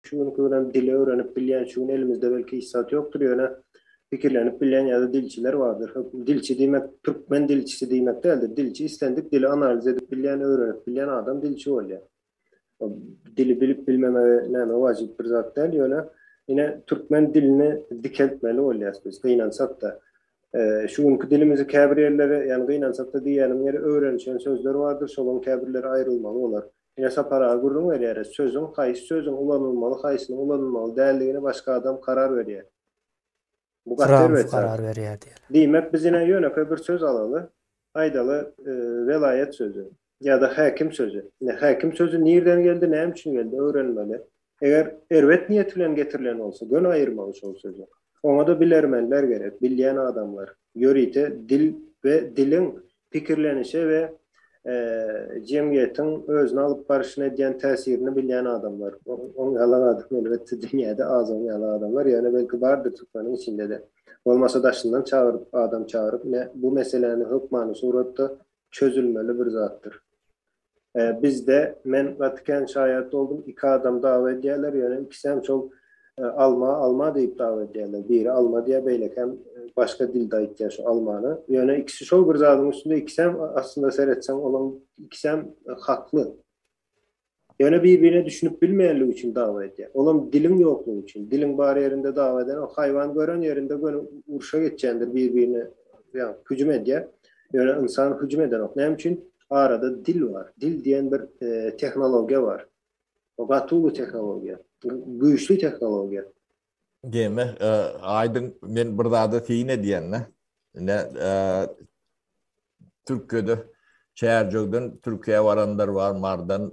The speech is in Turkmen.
Şu günki günem dili öwrenip bilýän, şu gün elimizde belki hiç zat ýokdur, ýöne pikirlenip bilýän ýa-da dilçiler bardyr. Hökm, dilçi diýmek türkmen dilçisi diýmek däldir. Dilçi islendik dili analiz edip bilýän, öwrenip bilýän adam dilçi bolýar. Dili bilip bilmemegi näme wajyp bir zat däl, ýöne ine türkmen dilini dikeltmeli bolýas biz gynansak-da. Şu günki dilimizi käbir ýerleri, ýagny gynansak-da diýýänim ýeri öwrenişen sözler bardyr, şolaryň käbirleri aýrylmaly bolar. Ine saparaga gürrüň berýäris. Sözüň, haýsy sözüň ulanylmaly, haýsynyň ulanylmaly däldigini başga adam karar berýär. Bu gaty erbet zat. Diýmek, biz ine ýönekeý bir söz alaly, aýdaly, welaýat sözi ýa-da häkim sözi. Ine, häkim sözi nirden geldi, näme üçin geldi, öwrenmeli. Eger erbet niýet bilen getirilen bolsa, göni aýyrmaly şol sözi. Oňa-da bilermenler gerek, bilýän adamlar, ýörite dil we diliň pikirlenişe we jemgyýetiň özüni alyp barşyna edýän täsirini bilýän adamlar. Oň ýaly adam, elbetde, dünýäde az oň ýaly adamlar, ýöne belki bardyr türkmeniň içinde-de. Bolmasa daşyndan çagyryp, adam çagyryp, ine, bu meseläni hökmany suratda çözülmeli bir zatdyr. Bizde men gaty kän şaýat boldum iki adam dawa edýäler ýöne ikisem şol alma alma diýip dawa edýäler biri alma diýýä beýlekem başga dilde aýtýa şu almany ýöne ikisi şol bir zadyň üstünde ikisem aslynda seretseň olaň ikisem hakly ýöne bir birine düşünip bilmeýänligi üçin dawa edýä olam diliň ýoklugy üçin diliň bar ýerinde dawa eden o haýwan gören ýerinde göni urşa geçýändir bir birine ýa hüjüm edýä ýöne ynsan hüjüm edenok näme üçin arada dil bar. Dil diýen bir tehnologiýa bar. O gaty uly tehnologiýa. Güýçli tehnologiýa. Demek, aýdyň, men bir zada syn edýän-dä. Ine, Türkiýede Çärjewden Türkiýä baranlar bar, Mardan